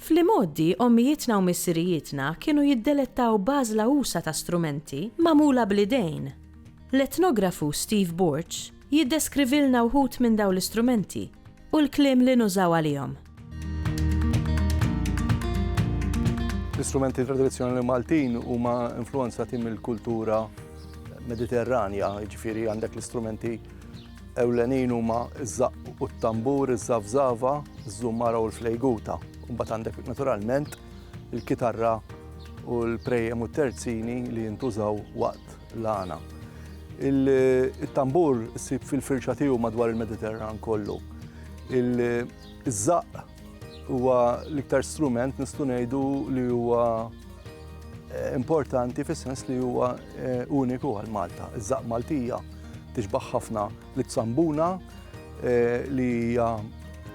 Fl-imgħoddi, ommijietna u missirijietna kienu jiddelettaw b'għażla usa' ta' strumenti magħmula bl-idejn. L-etnografu Steve Borg jiddeskrivilna wħud minn dawn l-istrumenti u l-kliem li nużaw għalihom. L-istrumenti tradizzjonali Maltin huma influwenzati mill-kultura Mediterranja, jiġifieri għandek l-istrumenti Ewlenin huma ż-żaqq u t-tambur, iż-żafżafa, iż-żummara u l-flejguta. Imbagħad għandek naturalment il-kitarra u l-prejjem u t-terzini li jintużaw waqt l-għana. Il-tambur issib fil-firxa tiegħu madwar il-Mediterran kollu. Iż-żaqq Huwa l-iktar strument nistgħu ngħidu li huwa eh, importanti fis-sens li huwa eh, uniku għal Malta. Iż-żaq Maltija tixbaħ ħafna li tsambuna eh, li hija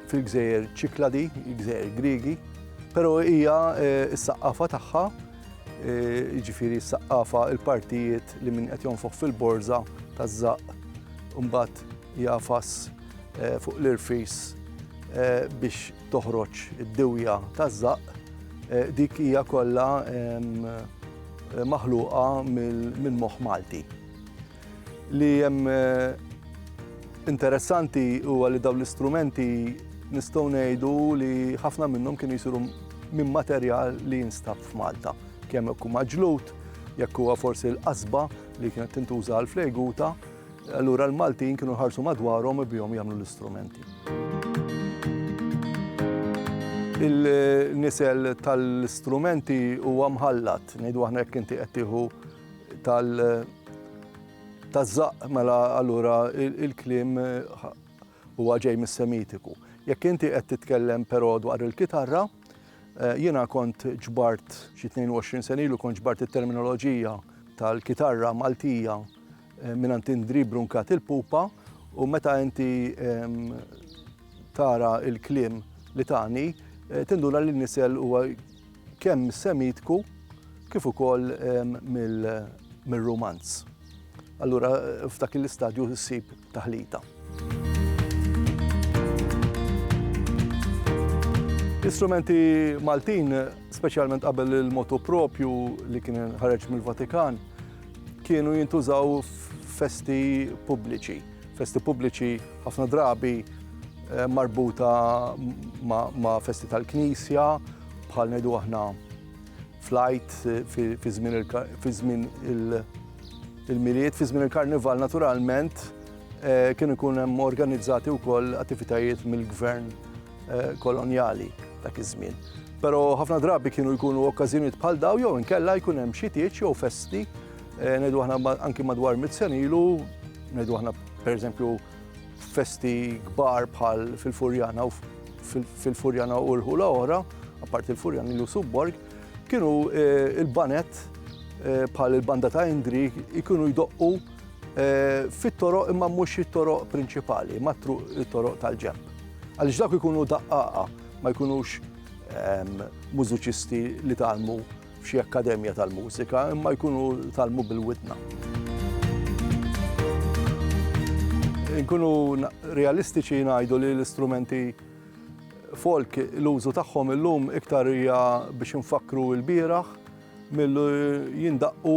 fil-gżejjer ċikladi, gżejjer Grigi, pero hija eh, s-saqqafa tagħha, eh, ġifiri s-saqqafa il-partijiet li minn qed jonfoħ fil-borza taż-żaq, mbagħad jagħfas fuq l-irfis biex toħroġ id-diwja taż-żaqq, dik hija kollha maħluqa minn moħħ Malti. Li hemm interessanti huwa li dawn l-istrumenti nistgħu ngħidu li ħafna minnhom kienu jsiru minn materjal li jinstab f'Malta. Kemm jekk huma ġlud, jekk huwa forsi l-qasba li kienet tintuża għall-flejguta, Allura l-Maltin kienu ħarsu madwarhom u bihom jagħmlu l-istrumenti. Il-nisel tal-istrumenti huwa mħallat, ngħidu aħna jekk inti qed tieħu tal- taż-żaq mela allura il-kliem huwa ġej mis-Semitiku. Jekk inti qed titkellem però dwar il-kitarra, eh, jiena kont ġbart xi 22 senilu kont ġbart it-terminoloġija tal-kitarra Maltija Mingħand Indri Bruncat il-pupa u meta inti tara il-kliem li tani, eh, tinduna li nisel huwa kemm semitku kif ukoll mill-romanz. Allura f'dak l-istadju ssib taħlita. L-istrumenti Maltin, speċjalment qabel il-motu propju li kien ħareġ mill-Vatikan, kienu jintużaw festi pubbliċi. Festi pubbliċi ħafna drabi eh, marbuta ma' festi tal-knisja, bħal ngħidu aħna flajt eh, fi żmien il-miliet, fi żmien il-karnival naturalment Eh, kienu jkun hemm organizzati wkoll attivitajiet mill-gvern eh, kolonjali dak iż-żmien. Però ħafna drabi kienu jkunu okkażjonijiet bħal daw jew inkella jkun hemm xi tieġ jew festi eh, ngħidu aħna anki madwar mizzjonilu, ngħidu aħna pereżempju festi kbar bħal fil-Furjana u fil-Furjana u l-ħula oħra, apparti l-Furjana li subborg, kienu il-banet bħal il-banda ta' Indri jkunu jdoqqu Eh, fit-toroq imma mhux it-toroq prinċipali, ma it-toroq tal-ġemp. Għaliex dak ikunu daqqaqa ma jkunux ehm, mużiċisti li talmu f'xi akkademja tal-mużika, imma jkunu talmu bil-widna. Nkunu realistiċi ngħidu li l-istrumenti folk l-użu tagħhom illum iktar hija biex nfakru l-bieraħ Milli jindaqqu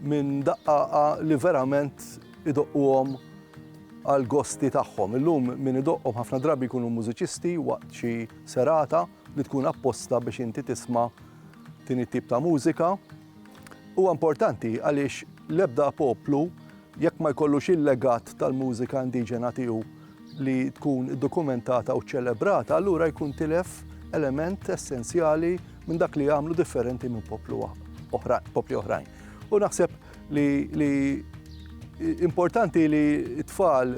minn daqqaqa li verament idoqquhom għall-gosti tagħhom. Illum min idoqqhom ħafna drabi jkunu mużiċisti waqt xi serata li tkun apposta biex inti tisma' din it-tip ta' mużika. Huwa importanti għaliex l-ebda poplu jekk ma jkollux il-legat tal-mużika indiġena tiegħu li tkun iddokumentata u ċċelebrata, allura jkun tilef element essenzjali minn dak li jagħmlu differenti minn poplu popli oħrajn. U naħseb li, li importanti li t-tfal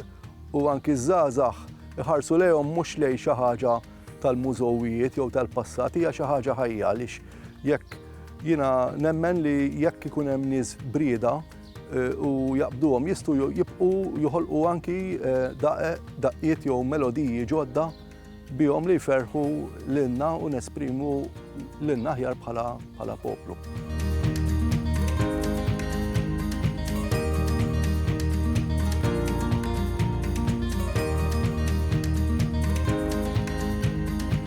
u anki żgħażagħ iħarsu lejhom mhux lej xi ħaġa tal-mużowijiet jew tal-passat hija xi ħaġa ħajja għaliex jekk jiena nemmen li jekk ikun hemm nies brieda u jaqbduhom jistgħu jibqgħu joħolqu anki daqeq, daqqiet jew melodiji ġodda bihom li jferħu lilna u nesprimu lilna aħjar bħala poplu.